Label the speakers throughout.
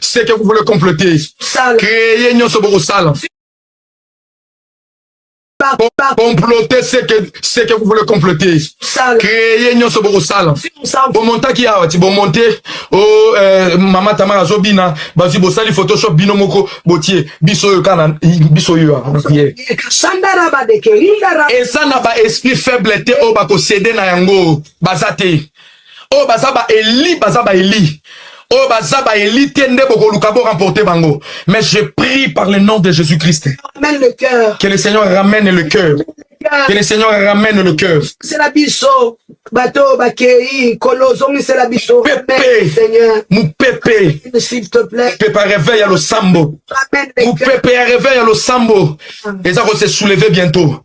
Speaker 1: ce que vous voulez comploter créer nyonso bokosala comploter ce que ce que vous voulez comploter créer nyonso bokosala bomontaki awa ti bomonte o oh, euh, mama tamara azobina bazwi bosali photoshop bino moko botie biso oyo kana biso oyo eza na ba esprit faible te oyo bakosede na yango baza te oyo baza ba eli baza ba eli oyo baza ba eli te nde bokoluka bo remporter bango mais je prie par le nom de Jésus Christ
Speaker 2: que le Seigneur ramène
Speaker 1: le cœur que le Seigneur ramène le cœur sela biso
Speaker 2: bato bakei kolo zongisela biso pepe
Speaker 1: mupepe
Speaker 2: pepe ya reveil ya losambo
Speaker 1: mupepe ya reveil ya losambo ah. eza ko se soulever bientôt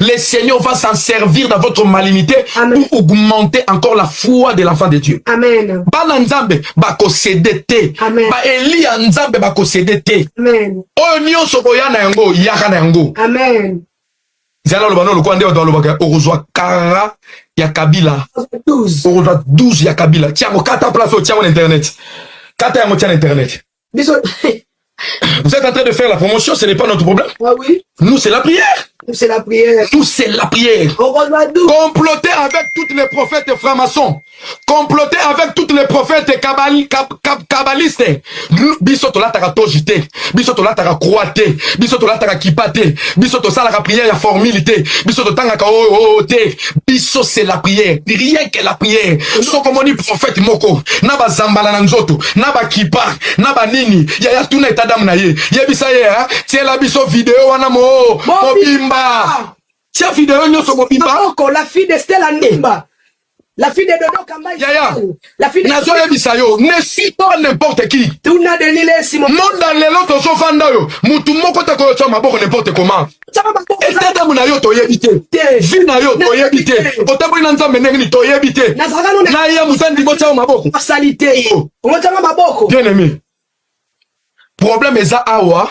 Speaker 1: Le
Speaker 2: Seigneur va
Speaker 1: s'en servir dans votre malignité Amen. pour augmenter encore la foi de l'enfant de Dieu. Amen. Bana
Speaker 2: Nzambe
Speaker 1: bakosede te. Amen. Ba Elia
Speaker 2: Nzambe
Speaker 1: bakosede te. Amen. Oyo
Speaker 2: nyonso boya
Speaker 1: na yango yaka na yango. Amen.
Speaker 2: Zala loba
Speaker 1: no lokuande wa loba ka okozwa kara ya Kabila. Okozwa 12
Speaker 2: ya
Speaker 1: Kabila. Tiango kata place o tiango na internet. Kata yango tiango na internet. Biso Vous êtes en train de faire la promotion, ce n'est pas notre problème. Ah oui. Nous, c'est la
Speaker 2: prière.
Speaker 1: Nous, c'est la prière.
Speaker 2: Nous, c'est la prière.
Speaker 1: Comploter avec toutes les prophètes francs-maçons. Comploter avec toutes les prophètes kabal, kab, kab, kabbalistes. Biso tolataka tojite. Biso tolataka croate. Biso tolataka kipate. Biso tosalaka prière ya formilité. Biso totangaka oh, oh, oh, te. biso c'est la prière rien que la prière soko moni prophète moko na bazambala na nzoto na bakipa na banini yaya tuna eta dame na ye yebisa ye hein? tiela biso video wana mo mobimba tia video nyonso mobimba la fille de Stella
Speaker 2: Ndumba la fille de Dodo Kamba yaya
Speaker 1: nazoyebisa
Speaker 2: yo ne
Speaker 1: suis pas n'importe qui
Speaker 2: monda lelo tozofanda
Speaker 1: oyo motu moko te koyotya maboko n'importe comment etatamu na yo toyebi te vi na yo toyebi te otamboli na nzambe ndenge nini toyebi te na ye mozandi botyayo maboko oh.
Speaker 2: bien aimé
Speaker 1: problème eza awa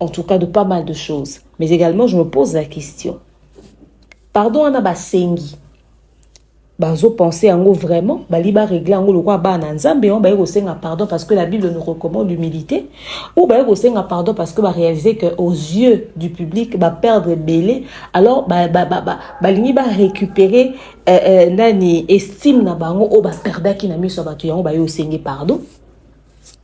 Speaker 3: en tout cas de pas mal de choses mais également je me pose la question pardon wana basengi bazopense yango vraiment bali baregle yango lokola bana ya nzambe yango baye kosenga pardon parce que la bible nous recommande l'humilité ou baye kosenga pardon parce que baréalise que aux yeux du public baperdre ebele alors balingi ba, ba, ba, ba barécupérer euh, euh, nani estime na bango oyo baperdaki na miso ya bato yango baye osenge pardon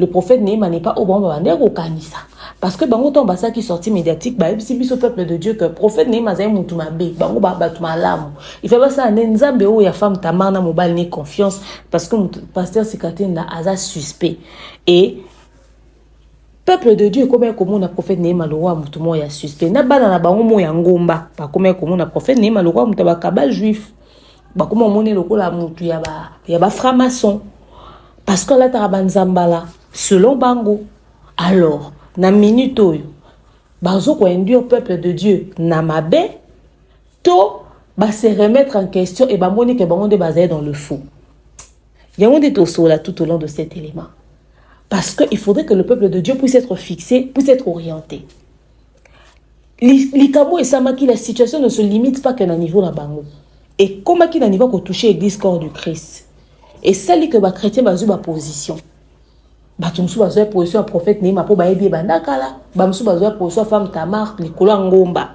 Speaker 3: le prophète Nehema n'est pas au bon moment ndeko kanisa parce que bango tant basa qui sorti médiatique ba ebisi biso peuple de Dieu que prophète Nehema zai mutu mabe bango ba batu malamu il fait ça ne nzambe o ya femme tamar na mobali ne confiance parce que pasteur Sikatenda aza suspect et peuple de dieu ekomaki komona prophète nehema lokola moto moko ya suspect na bana na bango moko ya ngomba bakomaki komona prophète nehema lokola moto ya bakabal juif bakoma omoni lokola mutu ya ba ya ba franc maçon parce que alataka banzambala selon bango alors na minute oyo bazo ko induire peuple de dieu na mabe to ba se remettre en question et bamoni ke bango nde bazali dans le faux yango nde tosola tout au long de cet élément parce que il faudrait que le peuple de dieu puisse être fixé puisse être orienté likambo esamaki la situation ne se limite pas que na niveau na bango ekomaki na niveau kotouche église corps du christ esali ke bachrétien bazwi baposition bato mosusu bazwa ya position ya prophète neima mpo bayebi ebanda kala bamosusu bazwa ya position ya femme tamar likolo ya ngomba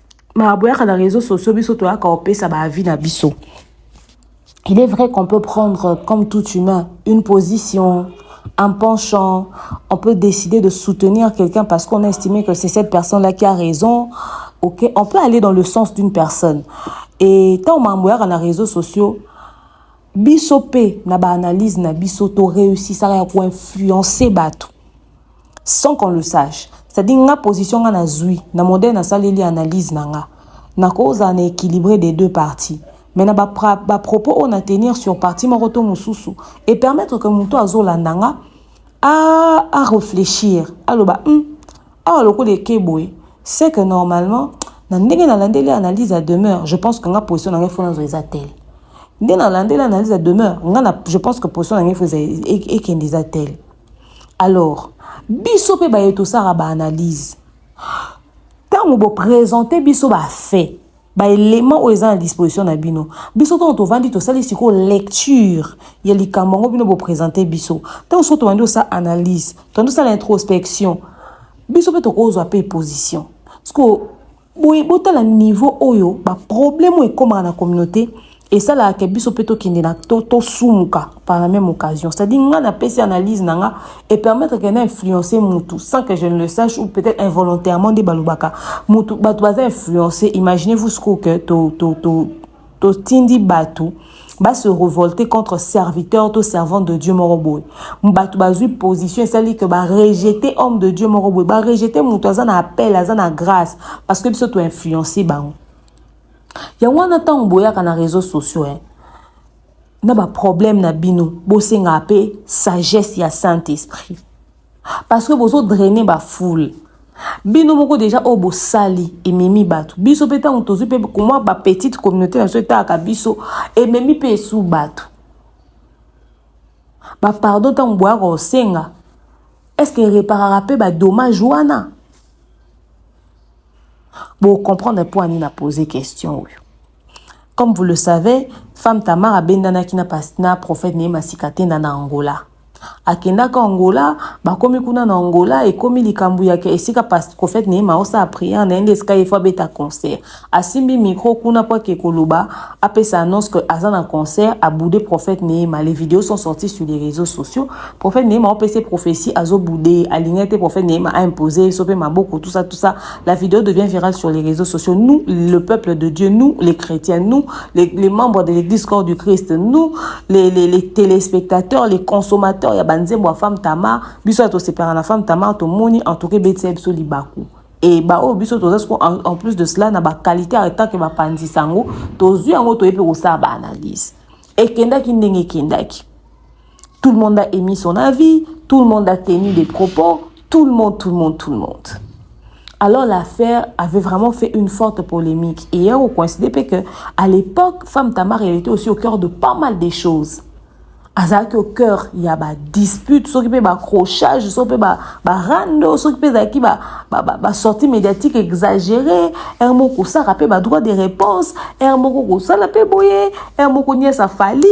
Speaker 3: ma boyaka na réseaux sociaux biso toyaka kopesa ba avis na biso il est vrai qu'on peut prendre comme tout humain une position un penchant on peut décider de soutenir quelqu'un parce qu'on a estimé que c'est cette personne là qui a raison ok on peut aller dans le sens d'une personne et tant mambo yaka na réseaux sociaux biso pe na ba analyse na biso to réussissaka ya ko influencer bato sans qu'on le sache c'est à dire nga position nga nazwi na modèle nasaleli analyse na nga nakozala na équilibré des deux parties mais na bapropos oyo na tenir sur partie moko to mosusu e permettre que moto azolanda nga a, a réfléchir aloba hum, awa lokola eke boye c'est que normalement na ndenge nalandeli analyse ya demeure je pense que nga position na ngai fo nazo eza tele nde nalandeli analyse ya demeure nga je pense que position na ngai fo ekende eza tele alors biso mpe baye tosaka baanalyse ntango bopresente biso bafait baelement oyo eza na disposition na bino biso ntango tovandi tosali sikoyo lecture ya likambo yango bino bopresente biso ntango soki tobandi osala analyse tobandi osala introspection biso mpe tokozwa mpe position sikoyo boye botala niveau oyo baproblème oyo ekomaka na communauté esalaka ke biso mpe tokende na to tosumuka par la même occasion c'est-à-dire ngai napesi analyse na nga epermettre ke na influence mutu sans que je ne le sache ou peut-être involontairement nde balobaka mutu bato baza influence imaginez vous ce que to, to, to, totindi bato ba se revolter contre serviteur to servante de Dieu moko boye bato bazwi position esali que ba rejeter homme de Dieu moko boye ba rejeter moto aza na appel aza na grâce parce que biso to influencer bango yango wana ntango boyaka na réseaux sociaux eh, na ba problème na bino bosengaka mpe sagesse ya saint esprit parce que bozo drainer ba foule bino moko deja oyo bosali ememi bato biso mpe ntango tozwi mpe komwa bapetite communauté na biso etalaka biso ememi mpe esu bato bapardon ntango boyaka kosenga estce ereparaka mpe badommage wana bocomprendre mpo ani na pose question oyo Comme vous le savez, femme Tamar abendanaki na pas na prophète ne masika tenda na Angola. Akendaka Angola, bakomi kuna na Angola, ekomi likambo ya ke esika pas prophète ne maosa a prière na yende esika yefo abeta concert. Asimbi micro kuna po ake koloba, apesa annonce que aza na concert, aboude prophète Neema. Les vidéos sont sorties sur les réseaux sociaux. Prophète Neema opesa prophétie azo boude, alingaki te prophète Neema a imposer ye sope maboko tout ça tout ça. La vidéo devient virale sur les réseaux sociaux. Nous, le peuple de Dieu, nous, les chrétiens, nous, les, les membres de l'église corps du Christ, nous, les, les, les téléspectateurs, les consommateurs, ya banzembo ya femme Tamar, biso ya tosepela na femme Tamar, tomoni en tout cas beti biso libaku. Et ba oyo biso toza siko en, en plus de cela na ba qualité ya tant que ba panzi sango, tozui yango toyebi kosala ba analyse. Ekendaki ndenge ekendaki. Tout le monde a émis son avis, tout le monde a tenu des propos, tout le monde, tout le monde, tout le monde. Alors l'affaire avait vraiment fait une forte polémique. Et hier, on coïncidait que à l'époque, Femme Tamar, elle était aussi au cœur de pas mal des choses. azalaki au cœur ya badispute soki mpe bacrochage soki mpe barando soki mpe ezalaki basorti médiatique exagéré ere moko kosaka mpe badroit de réponse ere moko kosala mpe boye ere moko niesa fali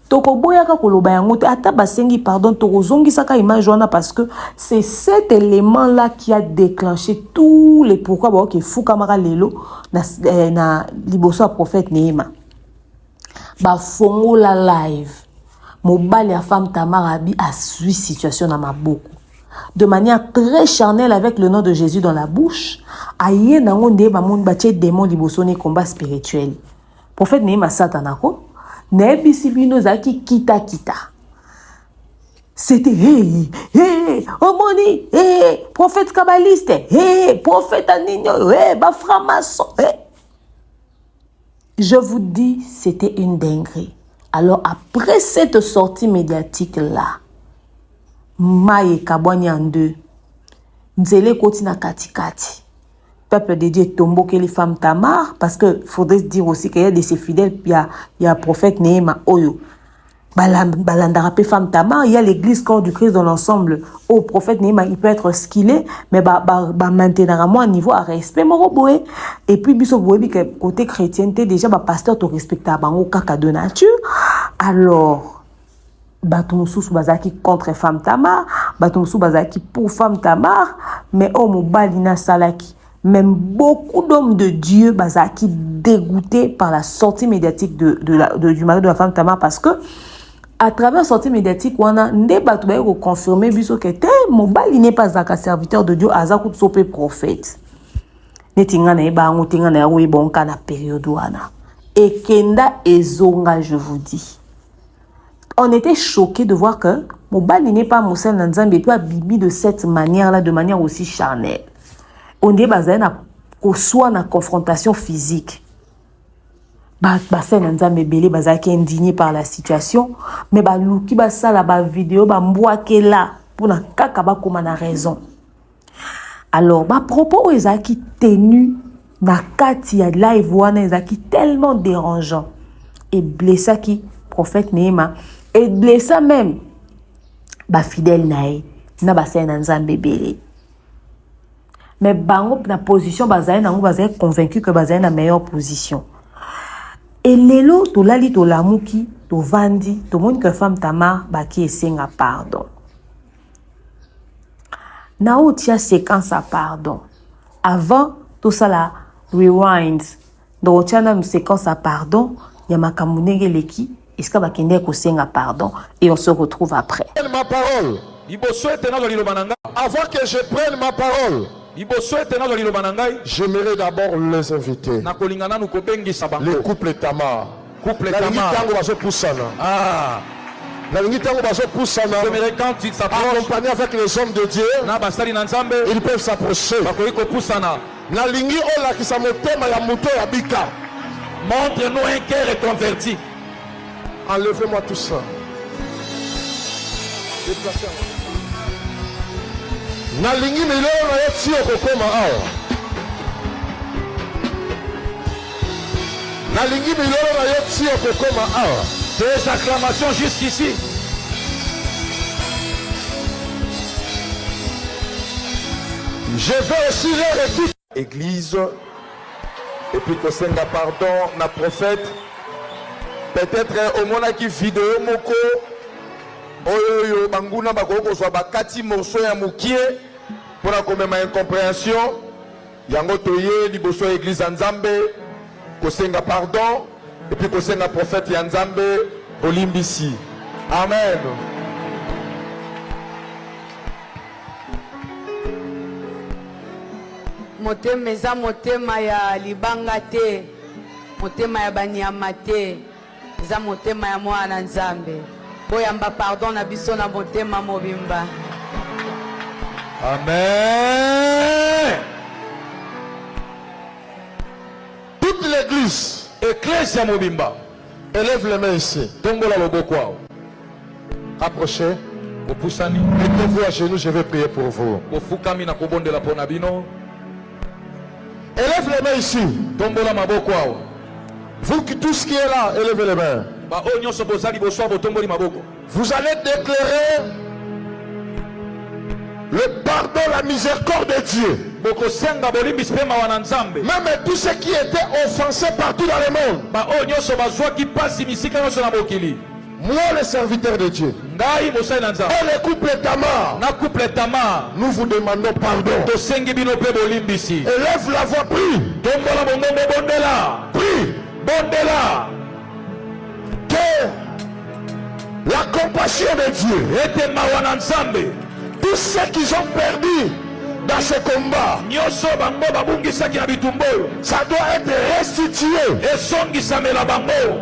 Speaker 3: tokoboyaka koloba yango te ata basengi pardon tokozongisaka image wana parce que c'est cet élément là qui a déclenché tous les pourquoi baoki efukamaka lelo na, eh, na liboso ya prophète neema bafongola live mobali ya femme tamar abi asui situation na maboko de manière très charnelle avec le nom de jésus dans la bouche aye nango nde bamoni batie démon liboso ne combat spirituel Prophète Nehi Masata nako nayebisi bino ezalaki kita kita. C'était hey hey omoni hey prophète kabaliste hey prophète aninyo hey ba franc-maçon hey. Je vous dis c'était une dinguerie. Alors après cette sortie médiatique là mayi ekabwani en deux nzela ekoti na katikati peuple de Dieu tombokeli femme Tamar parce que faudrait se dire aussi qu'il y a des fidèles il y a, il y a prophète Neema Oyo balandaka pe femme Tamar il y a l'église corps du Christ dans l'ensemble au oh, prophète Neema il peut être ce qu'il est mais ba ba, ba maintenir moi niveau à respect moko boye et puis biso boye bi côté chrétienté déjà ba pasteur to respecta bango kaka de nature alors bato mosusu bazalaki contre femme tamar bato mosusu bazalaki pour femme tamar mais oyo mobali nasalaki même beaucoup d'hommes de dieu bazalaki dégoûté par la sortie médiatique de, de la, de, du mari de la femme tamar parce que à travers sortie médiatique wana nde bato baye koconfirme biso ke te mobali ne pas azalaka serviteur de dieu aza kutu so mpe prophète neti ngai nayeba yango te ngai nayango oyeba onka na periode wana ekenda ezonga je vous dis On était choqué de voir que mobali n'est pas mosali na Nzambe epuis abimi de cette manière là de manière aussi charnelle. On dit bazali na koswa na confrontation physique. basali na nzambe ebele bazalaki indigne par la situation mais baluki basala bavideo bambwakela mpona kaka bakoma na raison alors ba propos oyo ezalaki tenu na kati ya live wana ezalaki tellement dérangeant et blessaki prophète Neema et blessa même ba fidèle na ye na basali na Nzambe ebele mais bango na position bazali nango bazali convaincu que bazali na meilleure position et lelo tolali tolamuki tovandi tomoni que femme Tamar baki esenga pardon na otia séquence ya pardon avant tosala rewind donc otia nanu séquence ya pardon ya makambo ndenge eleki esika bakendeki kosenga pardon et on se retrouve après ma parole
Speaker 1: liboso ete nazwa liloba na ngai avant que je prenne ma parole liboso ete nazwa liloba na ngai j'aimerais d'abord les inviter nakolinga nanu kobengisa bango le couple tamar Couple nalingi Kama. ntango bazopusana Ah, nalingi ntango bazopusana j'aimerais quand tu t'approches accompagné avec les hommes de dieu na basali na Nzambe ils peuvent s'approcher bakoki kopusana. nalingi olakisa motema ya moto ya bika Montre-nous un cœur reconverti. enlevez moi tout ça Déplacez yango. nalingi milelo na yo ti okokoma awa nalingi milolo na yo ti okokoma awa tes acclamations jusqu'ici je vais aussi leur équipe église et puis kosenga pardon na prophète peut-être omonaki video moko oyo oyo banguna bakoki kozwa bakati morceau ya mokie mpo na komema incomprehension Yango toye liboso ya eglise ya Nzambe kosenga pardon epuis kosenga prophète ya Nzambe bolimbisi. Amen.
Speaker 2: motema eza motema ya libanga te motema ya banyama te Eza motema ya mwana na Nzambe. Boyamba pardon na biso na motema mobimba.
Speaker 1: Amen. Toute l'église, ecclesia mobimba, élève les mains ici. Tombola loboko. Rapprochez. Bopusani. Mettez-vous à genoux, je vais prier pour vous. Bofukami na kobondela mpo na bino. Élève les mains ici. Tombola maboko awa. Vous qui tous qui est là, élevez les mains. Ba oyo nyonso bozali bosoa botomboli maboko. Vous allez déclarer le pardon, la miséricorde de Dieu. Bokosenga bolimbisi mpe mawa na Nzambe. Même tous ceux qui étaient offensés partout dans le monde. Ba oyo nyonso bazwaki mpasi bisika nyonso na mokili. Moi le serviteur de Dieu. Ngai mosali na Nzambe. Et le couple Tamar. Na couple Tamar. Nous vous demandons pardon. Tosengi bino mpe bolimbisi. Élève la voix prie. Tombola mongongo bondela. Prie. Bondela. Que la compassion de Dieu. Ete mawa na Nzambe. Tous ceux qui ont perdu dans ce combat nyonso bango babungisaki na bitumba oyo ça doit être restitué esongisamela bango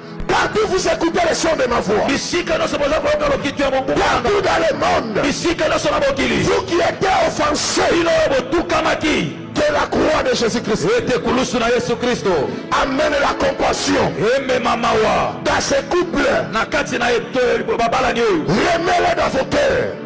Speaker 4: Partout vous écoutez le son de ma voix. Bisika nyonso boza koyoka lokito ya mongongo nanga. Partout dans le monde. Bisika nyonso na mokili. Vous qui étiez offensés. Bino oyo botukamaki. Que la croix de Jésus-Christ. Ete kulusu na Yesu Kristo. Amène la compassion. Emema mawa. Dans ce couple. Na kati na babalani oyo. Remets-le dans vos cœurs.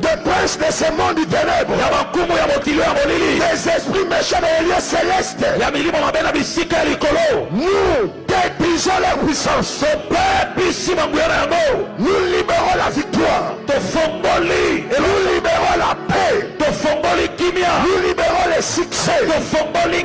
Speaker 4: des princes de ce monde du ténèbre ya bankumu ya mokili ya molili des esprits méchants dans les lieux célestes ya milimo mabe na bisika ya likolo nous détruisons leur puissance tobebisi banguya na yango nous libérons la victoire tofongoli nous libérons la paix tofongoli kimia nous libérons le succès tofongoli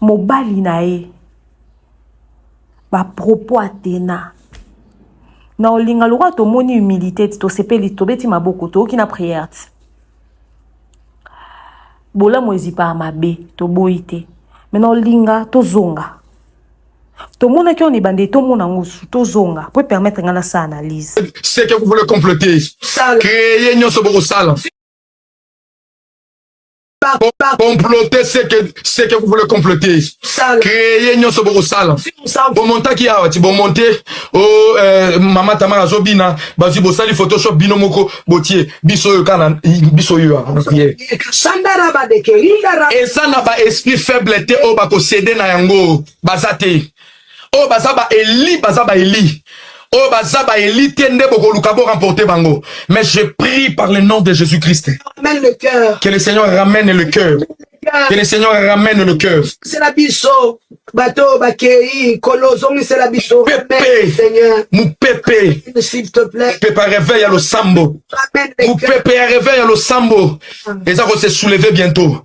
Speaker 3: mobali na ye bapropos atena na olinga lokola tomoni humilité ti tosepeli tobeti maboko toyoki na prière ti bolamu ezipaka mabe toboyi te me na olinga tozonga tomonaki oyo na ebandeli tomona yango su tozonga mpo epermettre ngai nasala analyse seke kuvule
Speaker 1: complote kreye nyonso bokosala comploter ce que ce que vous voulez comploter créer nyonso bokosala bomontaki awa ti bomonte o oh, eh, mama tamara azobina bazwi bosali photoshop bino moko botie biso oyo kana biso oyo eza na ba esprit faible te oyo bakosede na yango baza te oyo baza ba eli baza ba eli oyo baza ba eli te nde bokoluka bo remporter bango mais je prie par le nom de Jésus Christ
Speaker 5: que le Seigneur ramène
Speaker 1: le cœur que le Seigneur ramène le cœur bato
Speaker 5: bakei nkolo ozongisela biso mopepe
Speaker 1: mopepe
Speaker 5: ya reveil ya losambo
Speaker 1: mopepe ya reveil ya losambo ah. eza kose souleve bientôt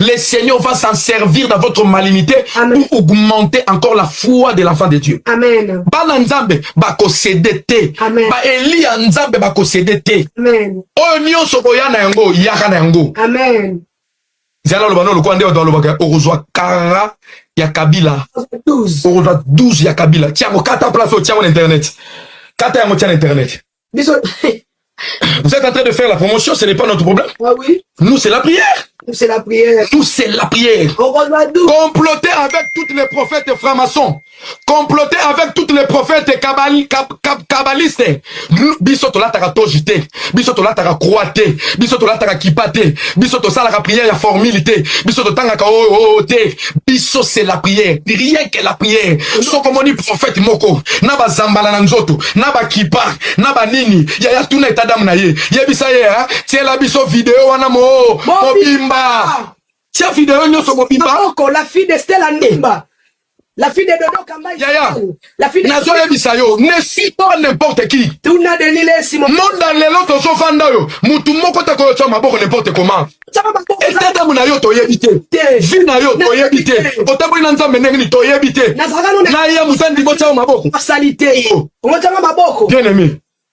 Speaker 1: Le
Speaker 5: Seigneur va
Speaker 1: s'en servir dans votre malignité Amen. pour augmenter encore la foi de l'enfant de Dieu. Amen. Bana
Speaker 5: Nzambe
Speaker 1: bakosede te. Amen. Ba Elia
Speaker 5: Nzambe
Speaker 1: bakosede te. Amen. Oyo
Speaker 5: nyonso boya
Speaker 1: na yango yaka na yango. Amen.
Speaker 5: Zala loba
Speaker 1: no lokola nde bato balobaka okozwa kara ya Kabila. Okozwa 12
Speaker 5: ya
Speaker 1: Kabila. Tiango kata place oyo tiango na internet. Kata yango tia na internet. Biso Vous êtes en train de faire la promotion, ce n'est pas notre problème. Ah oui. Nous, c'est la
Speaker 5: prière.
Speaker 1: Nous, c'est la prière.
Speaker 5: Nous, c'est la prière.
Speaker 1: Comploter avec toutes les prophètes francs-maçons. Comploter avec toutes les prophètes kabali, kab, kab, kabbalistes. Biso tolataka tojite. Biso tolataka croate. Biso tolataka kipate. Biso tosalaka prière ya formilité. Biso totangaka oh, oh, oh, te. biso c'est la prière rien que la prière soko moni prophète moko na bazambala na nzoto na bakipa na banini yaya tuna eta dame na ye yebisa ye hein? tiela biso video wana mo mobimba
Speaker 5: tia
Speaker 1: video
Speaker 5: nyonso mobimba la fille
Speaker 1: de Stella
Speaker 5: Ndumba la fille de Dodo Kamba yaya
Speaker 1: nazoyebisa
Speaker 5: yo ne
Speaker 1: suis pas n'importe qui
Speaker 5: monda lelo
Speaker 1: tozofanda oyo motu moko te koyotya maboko n'importe comment etatamu na yo toyebi te vi na yo toyebi te otamboli na nzambe ndenge nini toyebi te na ya moto andimotya yo maboko
Speaker 5: bien aimé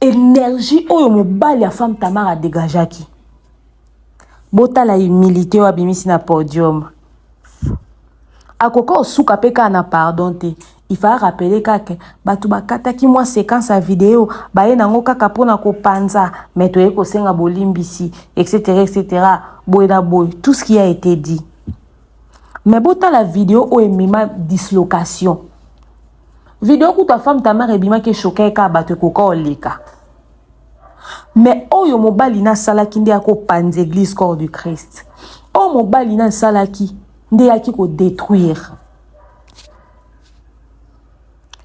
Speaker 3: energie oyo mobali ya femme tamar adegajaki botala humilité oyo abimisi na podium akoki osuka mpe kaka na pardon te il fallait rappeler kaka bato bakataki mwa séquence ya video baye nango kaka mpona kopanza mai toye kosenga bolimbisi etc etc boye na boye tout ce qui a été dit mais botala video oyo emema dislocation video kutu ya femme tamare ebimaki eshoka ye kaka bato ekoka oleka me oyo mobali na asalaki nde akopanza eglise corps du christ oyo mobali na asalaki nde eyaki kodétruire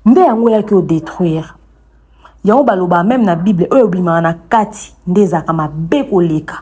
Speaker 3: nde yango eyaki odétruire yango baloba meme na bible oyo ebimaka na kati nde ezalaka mabe koleka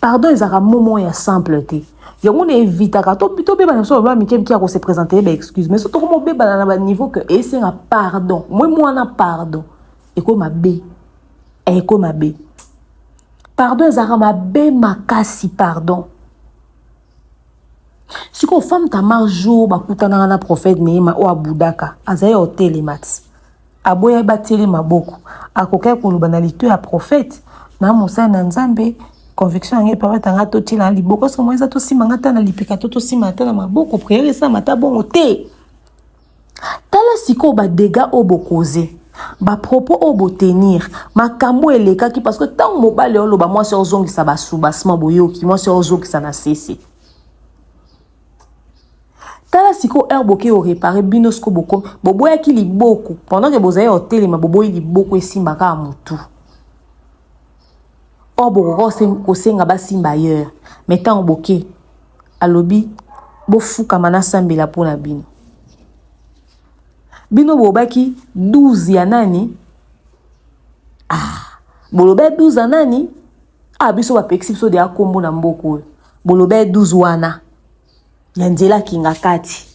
Speaker 3: pardon ezalaka momo ya simple te yango na evitaka tobebana biso baba mike mike ya kose présente ye baexcuse mais so tokoma obebana na baniveau ke esenga pardon moi mwana pardon eko mabe eh, eko mabe pardon ezalaka mabe makasi pardon sikoyo femme tamar jour bakutanaka na prophète neema oyo abudaka azali ya otelema ti aboyaki batieli maboko akokaki koloba na lito ya prophète na mosali na nzambe conviction yango epa batanga totielaa libokoso mwa eza tosimba nga ata na lipeka to tosimba ata na maboko priere esalama ata bongo te Tala sikoyo ba degats oyo bo causer, ba propos oyo bo tenir, makambu oyo elekaki parce que tangu mobali aoloba mwasi aozongisa ba soubassement boyoki, mwasi aozokisa na sese. Tala sikoyo heure boke o reparer bino sikoyo bokomi boboyaki liboko pendant que bozali otelema boboyi liboko esimba kaka mutu. Or bokoka kosenga basimba ailleurs mais tangu boke Alobi, Bofukama nasambela mpo na bino. Bino bobaki 12 ya nani? Ah, boloba 12 ya nani? Ah, biso bapekisi biso deya nkombo na mboka oyo. Boloba 12 wana ya nzela kinga kati.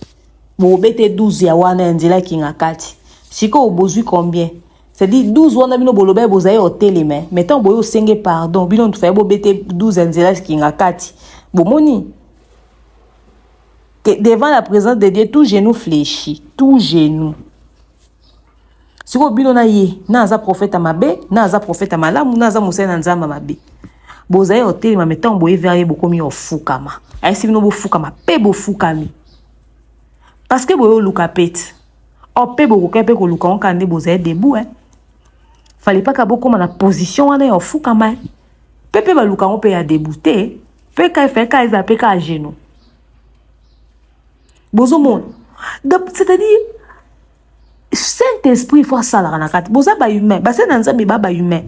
Speaker 3: Bobete 12 ya wana ya nzela kinga kati. Sikoyo bozwi combien? C'est dit 12 wana bino boloba bozaye hoteli mais mais tant boyo senge pardon bino ntufaye bobete 12 nzela kinga kati bomoni que devant la présence de Dieu tout genou fléchit tout genou sikoyo bino na ye na aza profeta mabe na aza profeta malamu na aza mosali na nzambe mabe bozali kotelema me ntango boye vere ye bokomi ofukama ayesi bino bofukama mpe bofukami parceke boye oluka pete Oh, mpe bokokai mpe koluka yango kaka nde bozali debout eh? fale mpaka bokóma na position wana ya ofukama eh? mpe mpe baluka yango mpe ya debout te mpe ka efali kaka ezala mpe kaka geno bozomona donc c'est-à-dire saint esprit fo asalaka na kati boza bahumain basali na nzambe ba bahumain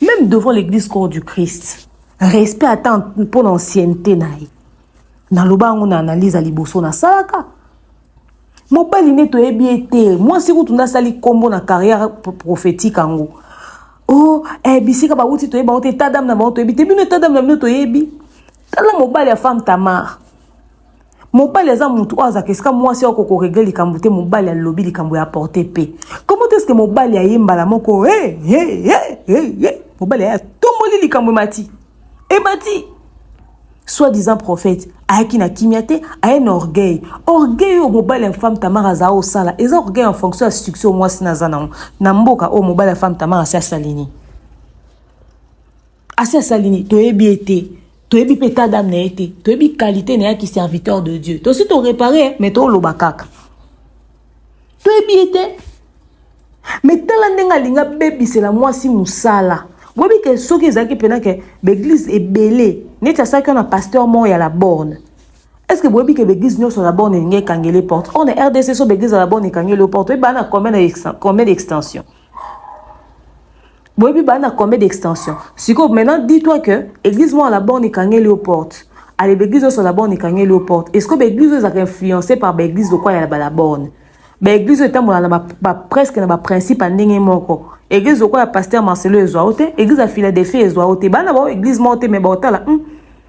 Speaker 3: Même devant l'église corps du Christ, respect ata mpo na ancienneté na ye. Naloba yango na analyse ya liboso nasalaka. Mobali nde toyebi ye te. Mwasi kutu nde asali nkombo na carrière prophétique yango. O oh, eh, bisika bawuti toyebi bango te, ta dame na bango toyebi te, bino ta dame na bino toyebi. Tala mobali ya femme Tamar. mobali aza mutu oyo azalaka esika mwasi oko koregle likambo te mobali alobi likambo ya porte pe komo te eske mobali aye mbala moko hey, hey, hey, hey, hey. mobali aye atomboli likambo emati emati soit disant prophète ayaki na kimia te aye na orgueil orgueil oyo mobali ya femme tamar aza osala eza orgueil en fonction ya succès oyo mwasi naza nango na mboka oyo mobali ya femme tamar asi asalini asi asali nini toyebi ye te toyebi mpe ta dame na ye te toyebi kalite na ye ki serviteur de dieu tosi torepare mais toloba kaka toyebi ye te me tala ndenge alinga bebisela mwasi mosala boyebi ke soki ezalaki mpena ke baeglize ebele neti asalaki wana pasteur moko ya la borne est ce que boyebi ke baeglize nyonso ya la borne elingi ekangele porte or na rdc so baeglize ya la borne ekangeli yo porte oyebaa na combien d'extension boyebi baa na combien d'extension sikoyo maintenant dis toi que église moko na borne ekangeli yo porte ale baeglise nyonso na borne ekangeli yo porte est ce que baeglise oyo ezalaka influence par baeglise lokola ya bala borne baeglise oyo etambola na ba, ba, presque na baprincipe ya ndenge moko eglise lokola ya paster marcelo ezwa yo te eglise ya philadelphie ezwa yo te bana bao eglise moko te mai baotala hmm,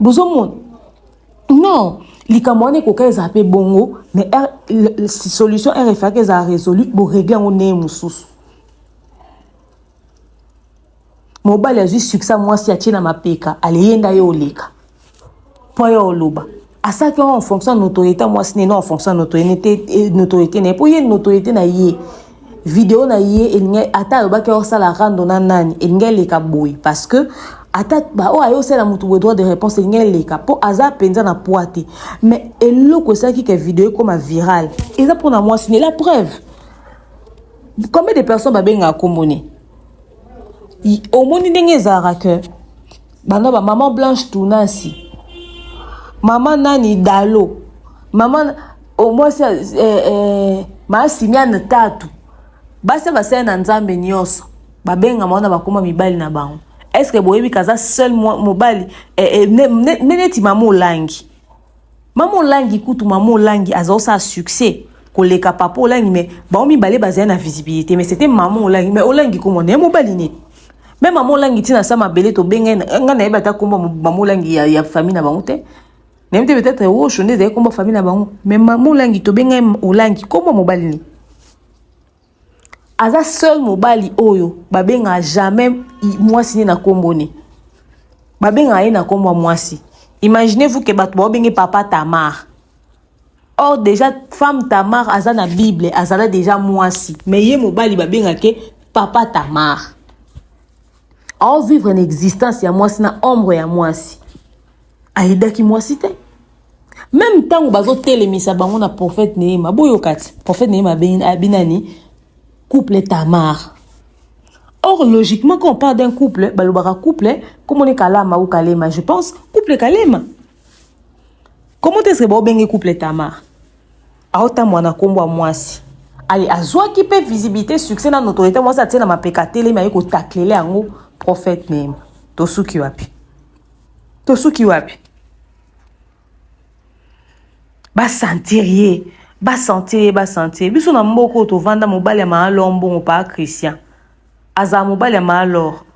Speaker 3: bozomona non likambo wana ekoka ezala mpe bongo mais er, solution rfaka ezala résolu boregle yango ndenge mosusu mobali azwi succès mwasi atie na mapeka aleyenda ye oleka mpo yo oloba asalaki yango en fonction ya notoriété mwasi nene en fonction ya notoriété na ye mpo ye notoriété na ye mpo ye notoriété na ye video na ye elingi ata alobaki osala rando na nani elingi eleka boye parce que ata baoyo aye osala motu boye droit de réponse elingi eleka mpo aza mpenza na poi te mais eloko esalaki ke video ekoma viral eza mpona mwasi ne la preuve combien de personnes babengaka nkombo ne omoni ndenge ezalaka ke banda ba maman blanche tunasi maman nani dalo maman omwasi oh, eh, eh, maasimiane tatu basi basali na nzambe nyonso babengama wana bakoma mibali na bango estce boyebi kaza seul mobali eh, eh, neti mama olangi Mama Olangi kutu mama Olangi aza osala succès koleka papa Olangi mais bango mibale bazali na visibilité mais c'était mama Olangi mais Olangi kombo na ye mobali nini me mama Olangi ntina sa mabele tobenga ye ngai nayebi ata kombo mama Olangi ya, ya famille na bango te nayebi te peut-être osho nde ezali kombo famille na bango mais mama Olangi tobenga ye Olangi kombo mobali nini aza seul mobali oyo babengaka jamais mwasi ne na nkombo ne babengaka ye na nkombo ya mwasi imaginez vous ke bato baobenge papa tamar or déjà femme tamar aza na bible azala déjà mwasi mais ye mobali babengake papa tamar aovivre na existence ya mwasi na ombre ya mwasi ayedaki mwasi te meme ntango bazotelemisa bango na prophète neema boyoka ti prophète neema abi nani couple tamar or logiquement quand on parle d'un couple balobaka couple komone kalama ou kalema je pense couple kalema comment est ce que baobenge couple tamar aotambwa na nkombo ya mwasi aye azwaki mpe visibilité succès na notoriété mwasi atie na mapeka atelemi aye kotaklele yango prophète neema tosuki wapi tosuki wapi basentir ye basentir ye basentir ye biso na mboka oyo tovanda mobali ya maalor mbongo paa christian azala mobali ya maalor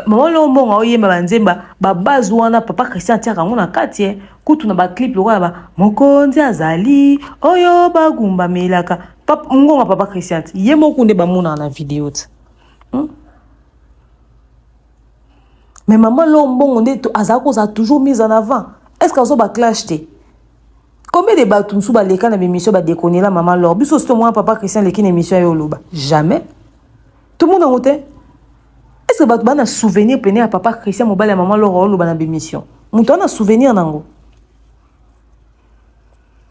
Speaker 3: mama lor mbongo aoyemba banzemba babase wana papa christian atiaka yango na kati ye eh. kutu na baclipe lokola ba mokonzi azali oyo bagumbamelaka ngonga papa christian ye moko nde bamonaka na video ti hmm? mais maman lor mbongo nde azalaki kozala toujours mise en avant est ce que azo baclash te combien de bato mosusu baleka na bemission badekonela maman lor biso osi tomona papa christian aleki na émission ya oloba jamais tomona yango te est ce que bato bana souvenir pene ya papa christian mobali ya maman lor oloba na bemission moto ana souvenir nango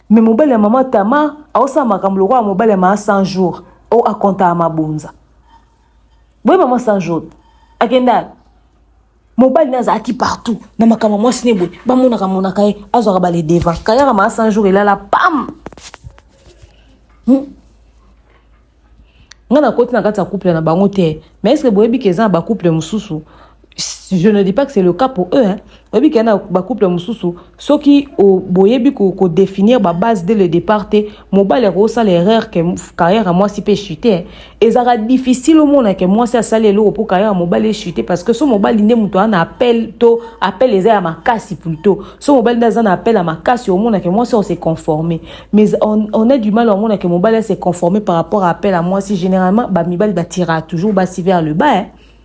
Speaker 3: mais mobali ya mama tama aosala makambo lokola mobali ya maa 100 jours o akontaka mabonza boye mama sans jaune akenda mobali na azalaki partout na makambo mwasi ne boye bamonaka monaka ye azwaka bale devant kayaka maa sans jour elala pam hmm? ngai nakoti na kati ya couple na bango te mais estce boyebi ke eza na bacouple mosusu je ne dis pas que c'est le cas pour eux hein. oyebi ke na bacouple mosusu soki boyebi kodéfinir babase dès le départ te mobali akosala erreur ke carrière ya mwasi mpe chute hein. ezalaka difficile omona ke mwasi asali eloko mpo carrière ya mobali echute parce que so mobali nde moto ana appel to appel eza ya makasi plutôt so mobali nde aza na appel ya makasi omona ke mwasi ose conforme mais on, on a du mal omona ke mobali ase conforme par rapport à appel ya mwasi généralement bamibali batiraka toujours basi vers le bas hein.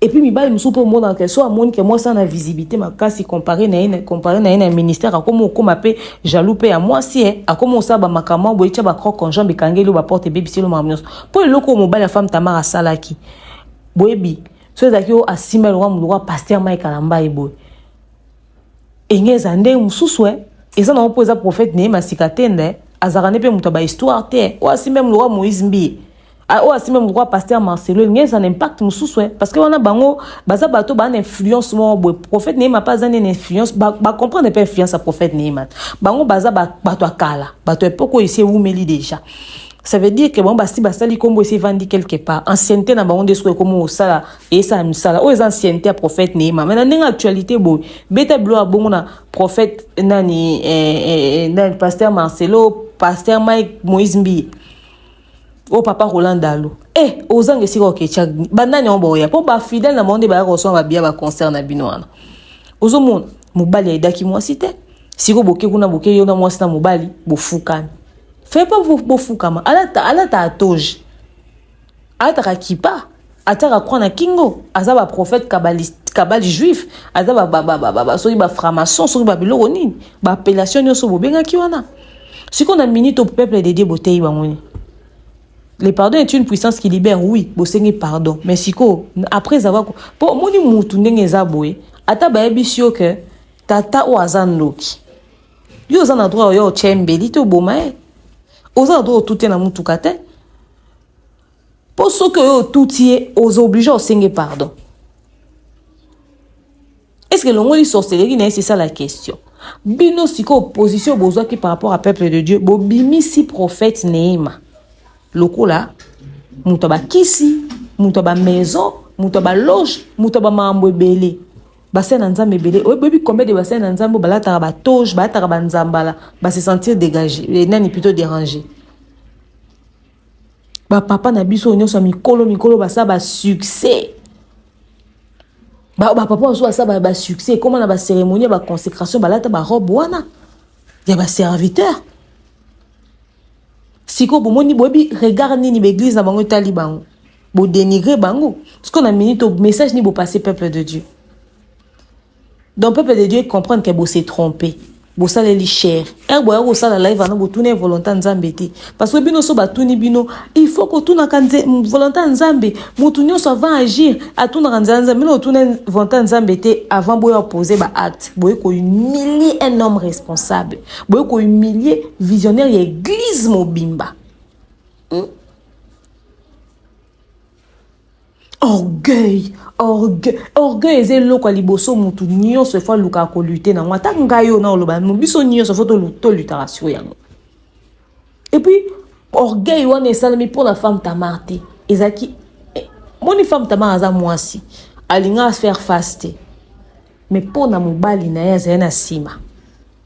Speaker 3: Et puis mibali mosusu mpe omonaka ke so amoni ke mwasi ana visibilité makasi compare na ye compare na ye na ministère akomi okoma mpe jaloux mpe ya mwasi e akomi osala bamakambo yango boyetya bacroc conjoint bikangeli yo baporte ebebisi yo makambo nyonso mpo eloko oyo mobali ya femme tamara asalaki boyebi so ezalaki oyo asimba eloko ya moloko ya paster mike alamba ye boye enge eza ndenge mosusu e eza nango mpo eza prophète na ye masika te nde azalaka nde mpe moto ya bahistoire te oyo asimba ye moloko ya moïse mbiye Ah, oyo asimbi mokwa pasteur marcelo elingi eza na impact mosusu eh. parce que wana bango baza bato baa na influence moko boye prophète neema mpe aza nde na influence bacomprendre mpe influence ya prophète neema bango baza bato ya kala bato ya epoko oyo esi ewumeli déjà ça veut dire que bango basi basali nkombo esi evandi quelque part ancienneté na bango nde soki ekomi kosala eyesala misala oyo eza ancienneté ya prophète neema mai na ndenge actualité boye beta bilo ya bongo na prophète nani eh, eh, eh, nani pasteur marcelo pasteur mike moïse mbiye o oh, papa roland dalo e eh, ozanga esika oketya banani yango baoya mpo bafidele na bango nde bayaka kosomba babiya baconcert na bino wana ozomona mobali ayidaki mwasi te siko boke kuna boke yo na mwasi na mobali bofukami fai pa bofukama alata alata atoge alataka kipa atiaka croix na kingo aza ba prophète kabaliste kabali juif aza ba ba ba ba ba soki ba franc-maçon soki ba biloko nini ba appellation nioso bobengaki wana siko na minute au peuple de Dieu boteyi bango ni le pardon est une puissance qui libère oui bosengi pardon mais siko après avoir po moni mutu ndenge eza boye ata bayebisi yo que tata oyo aza ndoki yo oza na droit oyo otye mbeli te oboma ye oza na droit otute na motuka te Po soki oyo otuti ye ozo oblige osenge pardon. Est-ce que longoli sorcellerie na ye c'est ça la question. Bino sikoyo position bozwaki par rapport à peuple de Dieu bobimisi prophète Neema lokola moto ya bakisi, moto ya ba maison, moto ya ba loge, moto ya ba makambo ebele. basali na nzambe ebele oyebi combien de basali na nzambe balataka batoge balataka banzambala base sentir dégage eh, nani plutôt déranger Ba papa na biso nyonso mikolo mikolo basa ba succès. Ba, ba papa oso basa ba, ba succès comment na ba cérémonie ba consécration balata ba robe wana ya ba serviteur. Siko bomoni boyebi regard nini ba église na bango etali bango. Bo dénigrer bango. Siko na minute message ni bo passer peuple de Dieu. Donc peuple de Dieu comprendre que vous se tromper. bosaleli cher ere eh, boya kosala live wana botuna ye volonté ya nzambe te parce que bino so batuni bino il faut kotunaka volonté ya nzambe motu nyonso avant agir atunaka nzela nzambe bino otuna volonté ya nzambe te avant boya pose baacte boye kohumilie un homme responsable boye kohumilie visionnaire ya église mobimba hmm? orgueil orgueil orgueil eza eloko ya liboso motu nyonso efo alukaka kolute nango ata ngai oyo naoloba no biso nyonso fo tolutaka siko yango epuis orgueil wana esalami mpo na femme tamar te ezalaki eh, moni femme tamar aza mwasi alinga faire face te mais mpo na mobali na ye azali na nsima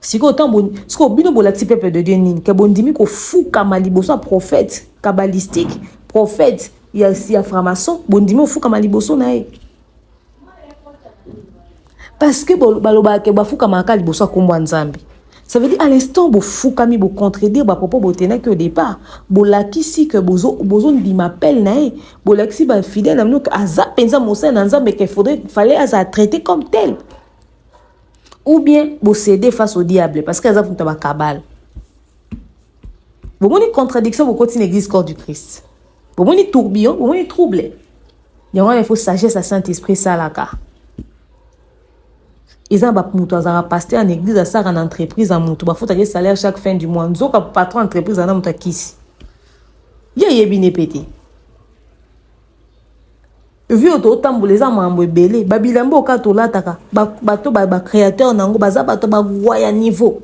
Speaker 3: sikoyo ntango sikoyo bino bolakisi peuple de dieu nini ke bondimi kofukama liboso ya prophète kabbalistique prophète ya, ya framason bondimi ofukama liboso na ye parce que balobaka ke bafukamaka kaka liboso ya nkombo ya nzambe ça veut dire à l'instant bofukami bocontredire bapropos botenaki au départ bolakisi ke bozondima bozo appel na ye bolakisi bafidèle na bino ke aza mpenza mosali na nzambe ke faudrait fallait azala traité comme tel ou bien bo céder face au diable parce que aza mutu ba kabale bomoni contradiction bokoti na église corps du christ bomoni tourbillon bomoni trouble yango wana il faut sagesse ya saint esprit esalaka eza ba mutu azalaka pasteur en église asaka na entreprise ya mutu bafutaka ye salaire chaque fin du mois nzoka patron entreprise ana mutu akisi ye ayebi ne pe te vie oyo totambola eza makambo ebele babilamba oka tolataka bato bacréateur na yango baza bato bagwa ya niveau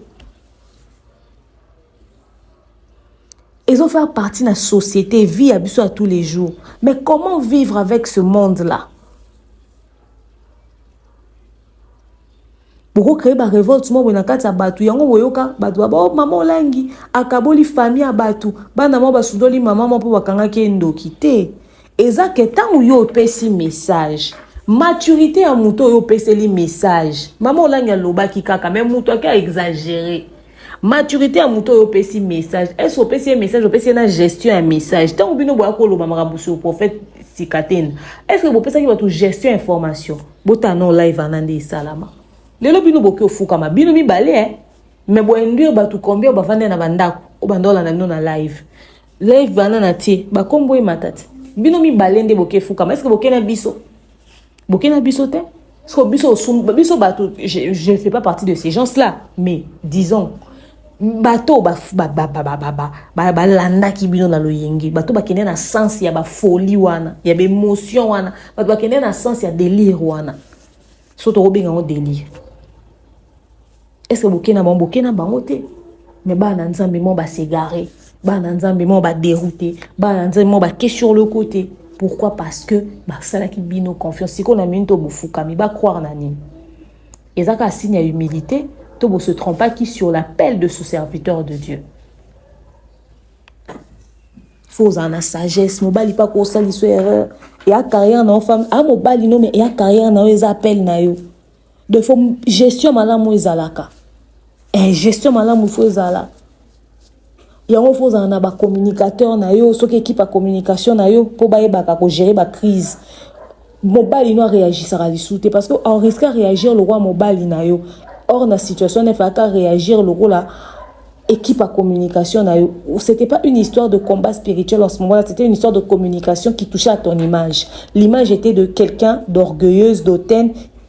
Speaker 3: ezo faire partie na société vie ya biso ya tous les jours mais comment vivre avec ce monde là boko créer ba revolte moko na kati ya bato yango boyoka bato baba oh, mama olangi akaboli famille ya bato bana mwa basundoli mama mwa mpo bakangaki ye ndoki te eza ke ntango yo opesi message maturité ya moto oyo opeseli message mama olangi alobaki kaka me moto ake aexagere maturité ya moto oyo opesi message ese opesi ye message opesi ye na gestion ya message ntango bino boya koloba makambo sur prophète sikatena estce bopesaki bato gestion ya information bota no live wana nde esalama lelo bino boke ofukama bino mibale eh? me boinduire bato combien bavanda na bandako oyo banda olanda bino na live live bana na tie bakombo emata te bino mibale nde boke efukama eske boke na biso boke na biso te biso, biso bato je ne fais pas partie de ces gens là mais disons bato oyo balandaki bino na loyenge bato bakende na sense ya bafoli wana ya baemotion wana bato bakende na sense ya delire wana so tokobenga yango delire estce boke na bango boke na bango te me bana nzambe mo basegare bana nzambe mo baderoute bana nzambe mo bake sur le côté pourquoi parce que basalaki bino confiance sikoyo na mini to bofukami bacroire na nini Eza kaka signe ya humilité to bo se trompa qui sur l'appel de ce serviteur de Dieu. Faut ozala na sagesse mobali mpe akosaliso erreur eya carrière na yo femme a mobali no me eya carrière na yo eza appel na yo de fo gestion malamu ezalaka eh, gestion malamu fo ezala yango faut ozala na ba communicateur na yo soki ekipe ya communication na yo mpo bayebaka kogere ba crise mobali no areagisaka lisusu te parce que en risque areagir lokola mobali na yo or na situation na efalaki areagir lokola équipe à communication na yo c'était pas une histoire de combat spirituel en ce moment là c'était une histoire de communication qui touchait à ton image l'image était de quelqu'un d'orgueilleuse d'hautaine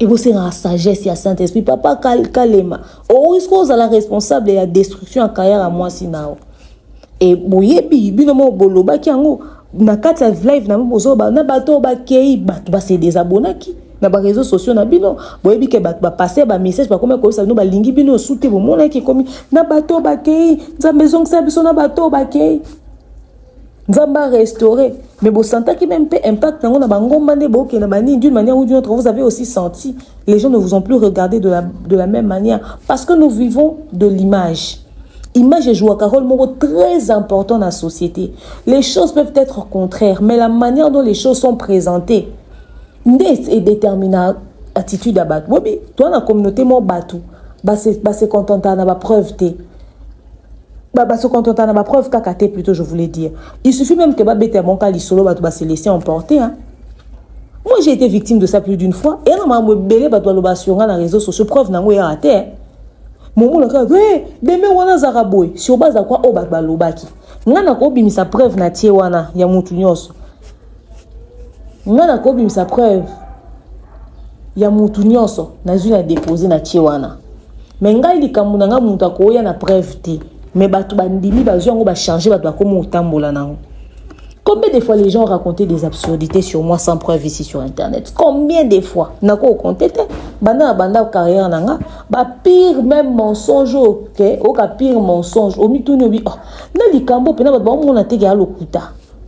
Speaker 3: ekosengaka sagesse ya saint esprit papa kal, kalema okoki ozala responsable ya destruction ya kaya ya mwasi na yo e boyebi bino moko bolobaki yango na kati ya live na bozoba na bato oyo bakei bato base desabonaki na bareseau sociaux na bino boyebi ke bato bapase bamessage bakomi koyebisa bino balingi bino osu te bomonaki ekomi na bato oyo bakei nzambe ezongisa biso na bato oyo bakei nzambe a restauré mais bosantaki meme mpe impact yango na bangomba nde bokenda banini d'une manière ou d'une autre vous avez aussi senti les gens ne vous ont plus regardé de la, de la même manière parce que nous vivons de l'image image ejouaka rôle moko très important na société les choses peuvent être contraires mais la manière dont les choses sont présentées nde edétermina attitude ya bato bobi toa na communauté moko bato base contentaka na bapreuve te Bah, bah, se contenter na ba preuve kaka te plutôt je voulais dire. Il suffit même que ba bete mon cas lisolo ba ba se laisser emporter hein. Moi j'ai été victime de ça plus d'une fois et on m'a belé ba loba sur na réseaux sociaux preuve nango ya raté. Hein. Mon mona ka eh demain wana zaka boy sur base à quoi o ba ba lobaki. Nga na ko bimisa preuve na tie wana ya mutu nyonso. nga nakobimisa preuve ya mutu nyonso nazwi na depose na tie wana me ngai likambo na ngai moto akoya na preuve te me bato bandimi bazwi yango bachange bato bakomi kotambola na yango Combien de fois les gens ont raconté des absurdités sur moi sans preuve ici sur Internet Combien de fois Nako compté te. Banda banda carrière nanga. Ba pire même mensonge ok. Oka pire mensonge. Omi tout nobi. Oh. Na likambo pena ba ba mona te ga lokuta.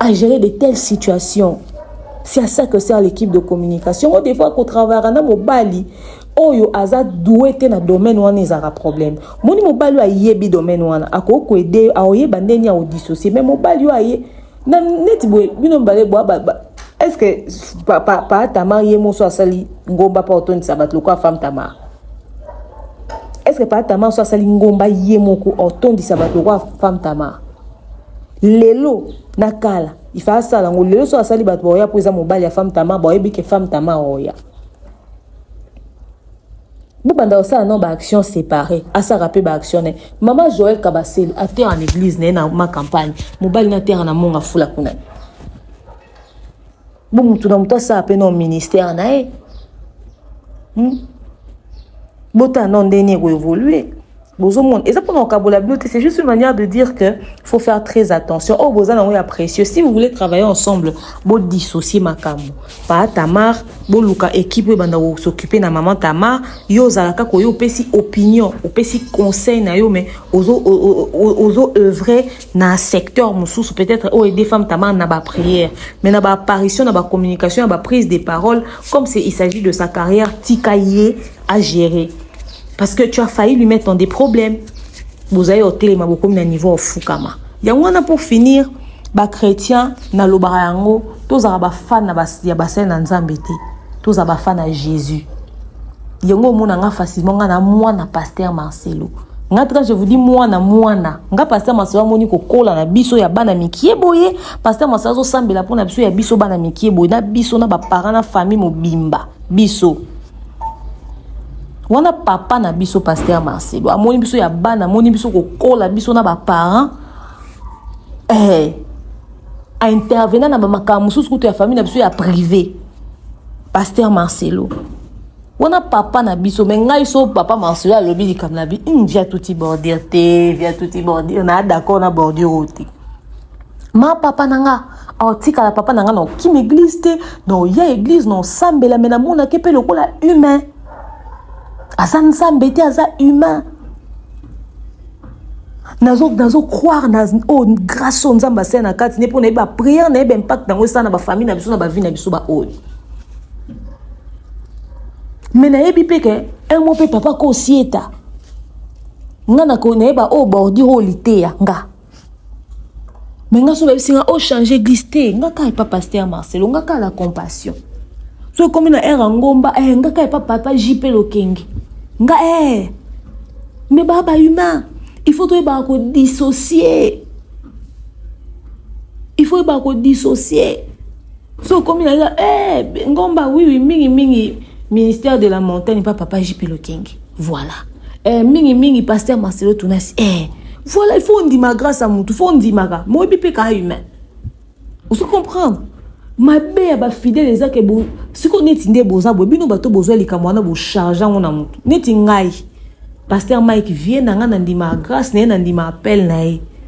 Speaker 3: à gérer de telles situations. C'est à ça que sert l'équipe de communication. On devrait travailler avec mobali oyo aza doué te na domaine wana ezalaka problème moni mobali oyo ayebi domaine wana akoki koede yo aoyeba ndenge ya kodissocie mais mobali oyo aye na neti boye bino mibale bwa est ce que pa, pa, pa tamar ye moso asali ngomba mpo otondisa bato lokola femme tamar est ce que pa tamar so asali ngomba ye moko otondisa bato lokola femme tamar lelo na kala ifa asala yango lelo soki asali bato baoya mpo eza mobali ya femme tama baoyebi ke femme tama oya bobanda kosala no baaction séparé asaka mpe baaction ne mama joel kabasele atere na église na ye na ma campagne mobali na atere na monga fula kuna Bo mutu na mutu asala pe na ministère na ye. Hmm? Bota na ndenge ko évoluer. bozomona eza mpona kokabola bino te c'est juste une manière de dire que faut faire très attention oyo oh, boza nango ya précieux si vous voulez travailler ensemble bodissocie makambo paa tamar boluka équipe oyo ebanda kosoccupe na maman tamar yo ozalaka koyo opesi opinion opesi conseil na yo mais ozo, ozo, ozo œuvre na secteur mosusu peut-être oyo ede femme tamar na baprière mais na baapparition na bacommunication ya baprise de parole comme c'est il s'agit de sa carrière tika ye à gérer parce que tu as failli lui mettre dans des problèmes bozali otelema bokomi na niveau ofukama yango wana pour finir bachrétien nalobaka yango tozala bafane ya basali na nzambe te tozala bafane ya jésus yango omona nga facilement nga na mwana pasteur marcelo nga tika je vous dis mwana mwana nga pasteur marcelo amoni kokola na biso ya bana mikie boye pasteur marcelo azosambela mpo na biso ya biso bana mikie boye na biso na baparent na famille mobimba biso wana papa na biso pasteur marcelo amoni biso ya bana amoni biso kokola biso na baparent eh, a intervena na bamakambo mosusu kutu ya famille na biso ya privé pasteur marcelo wana papa na biso me ngai so papa marcelo alobi likambo na bi mm, via tuti bordure te via tuti bordure na d'accord na bordure oyo te ma papa na nga aotikala papa na nga na okima eglize te na oya eglize na osambela me namonake mpe lokola humain aza nzambe te aza humain nazo nazo croire na oh, grâce oyo nzambe asala na kati ne mpo nayebi bapriere nayebi impact yango esala na bafamille na biso na bavie na biso baoyo me nayebi mpe ke un mo mpe papa kosieta nga nayeba oyo oh, bordure oyo liteya nga me nga so babisi nga ochange oh, eglise te nga kaka epa paster marcelo nga kaka na compassion so ekomi na ere ya ngomba eh, nga kaka epa papa jp lokenge nga eh. me baa bahumain il faut toyebaka kodissocie il faut oyebaka kodissocie so okomi na eh, ngomba wiwi mingi mingi ministère de la montagne pa papa jp lokenge voilà eh, mingi mingi pasteur marcelo tunasi eh, voilà il faut ondima grâce ya motu faut ondimaka moyebi mpe kaa humain ozo comprendre mabe ya bafidele eza ke sikoyo neti nde boza boye bino bato bozwa likambo wana bocharge yango na motu neti ngai paster mike vie na ngai nandima grâce na ye nandima appel na ye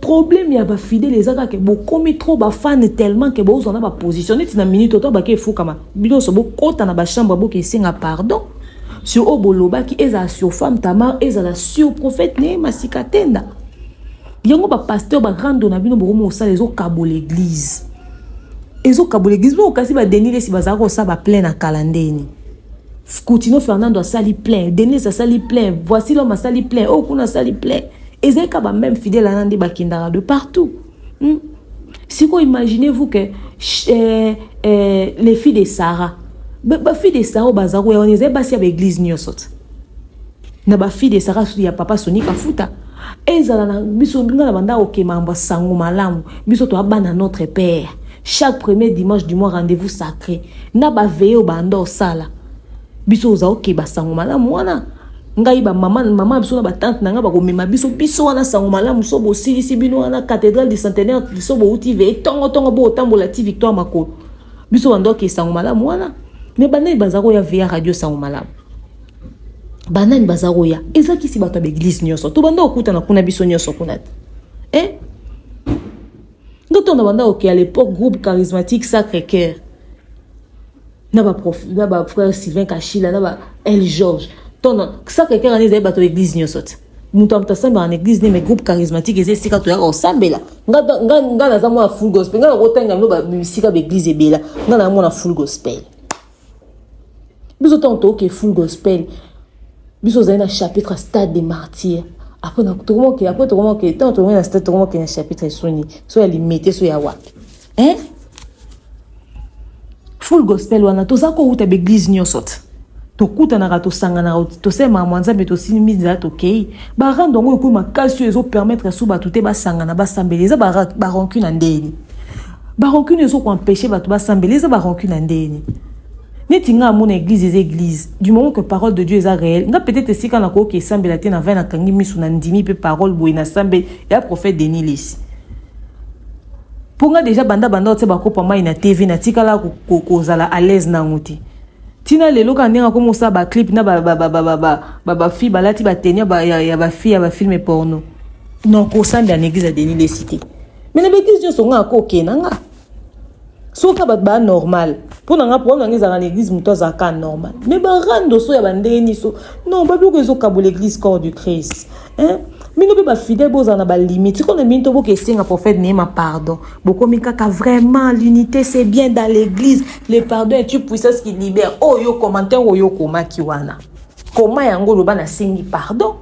Speaker 3: problème ya bafidele eza kaka bokomi trop bafane tellement ke bozwa na baposition neti na minute oto bake efukama binoso bokɔta na bachambre boke esenga pardon sur oyo bolobaki ezala sur femme tamar ezala sur prophète ne masika tenda yango bapasteur barando na bino bokomi kosala ezokabola eglise ezokabola eglise bino okasi badeni lesi bazala kosala baplein na kala ndeni Coutino Fernando asali plein, Denise asali plein, voici l'homme asali plein, oh kuna asali plein. ezali ka ba meme fidèle wana nde bakendaka de partout hmm? sikoyo imaginez vous que eh, eh, les filles de sarah bafille de sarah baza koya wana ezali basi ya baeglise nyonso te na bafille de sarah ya papa soni kafuta ezala na biso nga na banda kokema yambo sango malamu biso toya bana notre père chaque premier dimanche du mois rendez-vous sacré na baveye oyo banda osala biso oza okeba sango malamu wana ngai bamama mama biso na batante na ngai bakomema biso biso wana sango malamu so bosilisi bino wana cathédrale du centenaire so bouti veye tongotongo bootambola ti victoire makolo biso bandoki sango malamu wana me banani baza koya veya radio sango malamu banani baza koya eza kisi bato ya baeglize nyonso to banda kokutana kuna biso nyonso kuna te eh? ndotonda banda kokeya lepoque groupe charismatique sacre cœur na ba prof na ba frère Sylvain Kashila na ba El George ton ça quelqu'un ngani ezali bato l'église nyonso te moto moto asambela na église ne mais groupe charismatique eza esika toyaka kosambela nga naza mwana full gospel nga nakotanga bino bisika baeglise ebela nga na mwana full gospel biso ntango toyoke full gospel biso ozali na chapitre stade de martyr après tokomoke après tokomoke ntango tokomoke na stade tokomoke na chapitre esoni so ya limete so ya wapi eh? full gospel wana toza kowuta baeglise nyonso te tokutanaka tosanganaka tosemaka mwa nzambe tosimbi nzela tokei barando yango ekomi makasi oyo ezopermettre so bato te basangana basambela eza baronki na ndeni baronki nini ezokoempeshe bato basambela eza baronki na ndeni neti nga amona église eza église du moment que parole de dieu eza réel nga peut-être esika nakoki esambela te na vai nakangi miso na ndimi mpe parole boye nasambeli ya prophète denis lisi mpo nga deja banda banda otia bakopo ya mai na tv natikala kozala à l'aise nango te ntina lelo kaka ndenge akomi kosala baclip na bafille balati bateni ya bafille ya bafilme porno non kosambela na église ya denis lesite me na baeglise nyonso nga akokena nga soki kaka bato baya normal mpo na nga problème na nga ezalaka na église moto azalaka kaka normal mais barando so ya bandenge niso non babiloko ezokabola église corps du christ hein? bino mpe bafidèle bozala na balimite sikoyo na bino to boka esenga prophète neema pardon bokomi kaka vraiment l'unité c'est bien dans l'église le pardon est une puissance qui libère oyo oh, commentaire oyo okomaki wana koma yango oloba nasengi pardon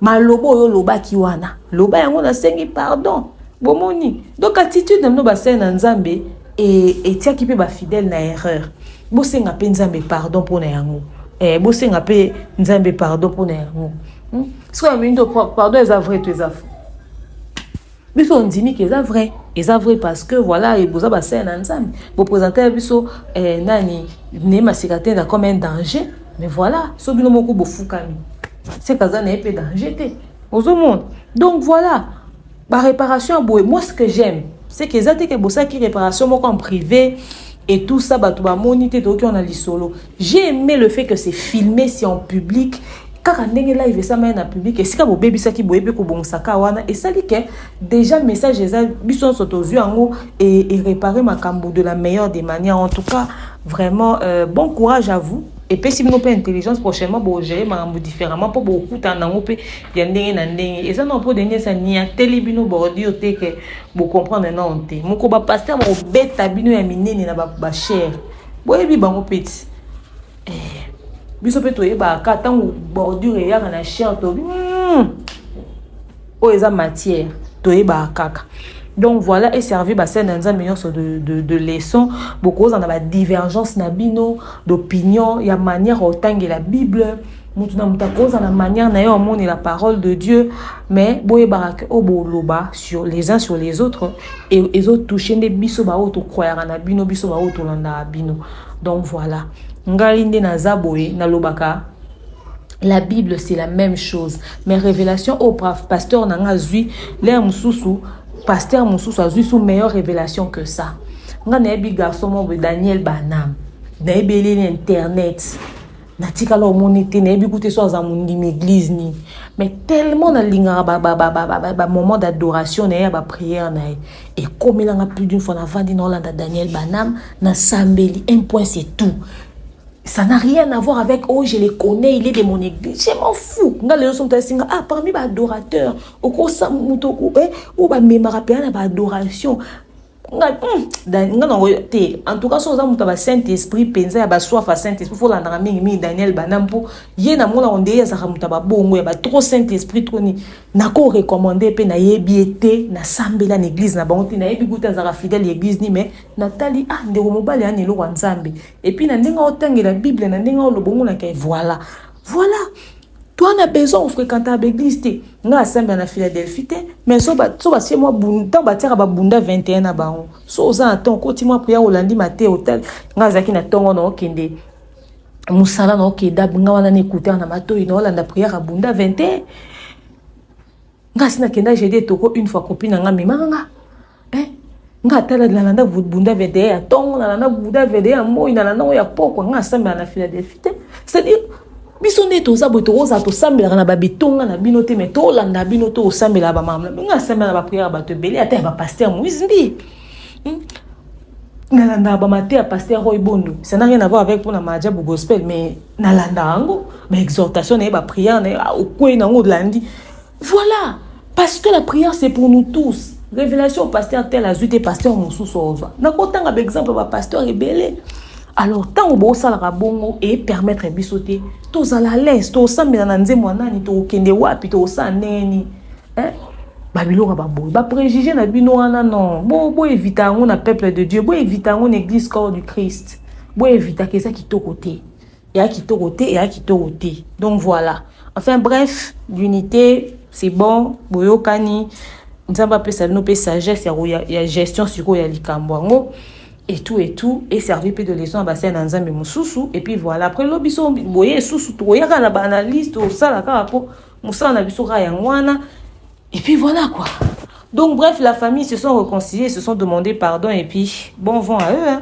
Speaker 3: maloba oyo olobaki wana loba yango nasengi pardon bomoni donc attitude na bino basali na nzambe e, etiaki mpe bafidèle na erreur bosenga mpe nzambe pardon mpo na yango eh, bosenga mpe nzambe pardon mpo na yango hmm? sikoyo mini to pardon eza vrai to eza fo biso ondimi ke eza vrai eza vrai parce que voilà boza basaya na nzambe bopresente ya biso eh, nani ne maseka te na comme un danger mais voilà so bino moko bofukami seka aza na ye mpe danger te ozomona donc voilà baréparation ya boye moi ce que j'aime c'est que eza te ke bosalaki réparation moko en privé et tout ça bato bamoni te toyoki wana lisolo J'ai aimé le fait que c'est filmé, c'est en public. kaka ndenge live esamaya na public esika bobebisaki boye mpe kobongisaka wana esali ke déjà message eza biso nyonso tozwi yango erepare makambo de la meilleure des manières en tout cas vraiment euh, bon courage à vous epesi bino mpe intelligence prochainement bogere makambo différemment mpo bokutana nango mpe ya ndenge na ndenge eza nao mpo denge esa niateli bino bordure te ke bocomprendre nao te moko bapaster bakobeta bino ya minene na bachere boyebi bango peti eh, biso mpe toyebaka ntango bordure eyaka na chien tobi hmm, oyo eza matière toyebaka kaka donc voilà eservi basene ya nzambe nyonso de, de, de leçon bokozala na badivergence na bino d'opinion ya manière otangela bible moto na moto akoza na manière na ye omoni la parole de dieu mais boyebaka ke oyo boloba sur les uns sur les autres ezotouche nde biso baoyo tokroyaka na bino biso baoyo tolandaka bino donc voilà ngai nde naza boye nalobaka la bible c'est la même chose mais révélation oyo pasteur na ngai azwi lere mosusu pasteur mosusu azwi so meilleure révélation que ça ngai nayebi garçon moko boye daniel banam nayebi eleli internet natikala omoni te nayebi kute so aza mondimi église nini mais tellement nalingaka bamoment d'adoration na ye ya baprière na ye ekomelanga plus d'une fois navandi na olanda daniel banam nasambeli un point c'est tout ça n'a rien à voir avec oh je le connais il est de mon église je m'en fou nga lelo so moto asinga ah parmi baadorateur okosa moto eh, oyo bamemaka mpena na baadoration nga hmm, nga nango te en tout cas soki oza moto ya basaint esprit mpenza ya baswafa ya saint esprit folandaka mingi mingi daniel bana mpo ye namonako nde ye azalaka moto ya babongo ya batro saint esprit tro nini nako recommande mpe nayebi ye te nasambela na église na bango te nayebi kuta azalaka fidèle ya église ni mais natali ah ndeko mobali yani eloko ya nzambe epuis na ndenge otangela bible na ndenge olobongonaka ye voilà voilà Toi na besoin ofrequenta ba eglise te nga asambela na philadelphie te mais so batie mwa ntango batiaka babunda 21 na bango so oza na ntongo koti mwa priere olandi mate otali nga azalaki na ntongo na okende mosala na okeda nga wana na ekutaka na matoi na olanda priere abunda 21 nga asi nakenda jedi etoko une fois kopi na nga memaka nga eh nga ata nalanda bunda vedeye ya ntongo nalanda bunda vedeye ya moi nalanda yango ya pokwa nga asambela na philadelphie te c'est-à-dire biso nde toza boye tokozala tosambelaka na babitonga na bino te mai tolanda bino to osambelaka bamama nga asambela na bapriere ya bato ebele ata ya bapaster moise mbi hmm? nalandaka bamate ya paster roy bondo ça n'a rien à voir avec mpona majabu gospel mais nalandaka yango baexhortation na ye bapriere na ye ah, okwei na yango olandi Voilà! Parce que la prière c'est pour nous tous. Révélation pasteur tel azui te pasteur mosusu ozwa. Nakotanga ba exemple ba pasteur ebele. Alors ntango bosalaka bongo e permettre biso te tozala lese tosambela na nzembo ya nani tokokende wapi tokosala ndenge nini eh? babiloko baboye bapréjugé na bino wana non boevita yango na peuple de dieu boevita yango na église corps du christ boevitaka eza kitoko te ya kitoko te ya kitoko te donc voilà enfin bref l'unité c'est bon boyokani nzambe apesa bino mpe sagesse ya, ya, ya gestion sikoyo ya likambo yango et tout et tout et servi mpe de leçon ya basali na nzambe mosusu et puis voilà après lobi so boye esusu tokoyaka na baanalyse tosala kaka mpo mosala na biso kaka yango wana et puis voilà quoi donc bref la famille se sont réconciliés se sont demandé pardon et puis bon vent à eux hein.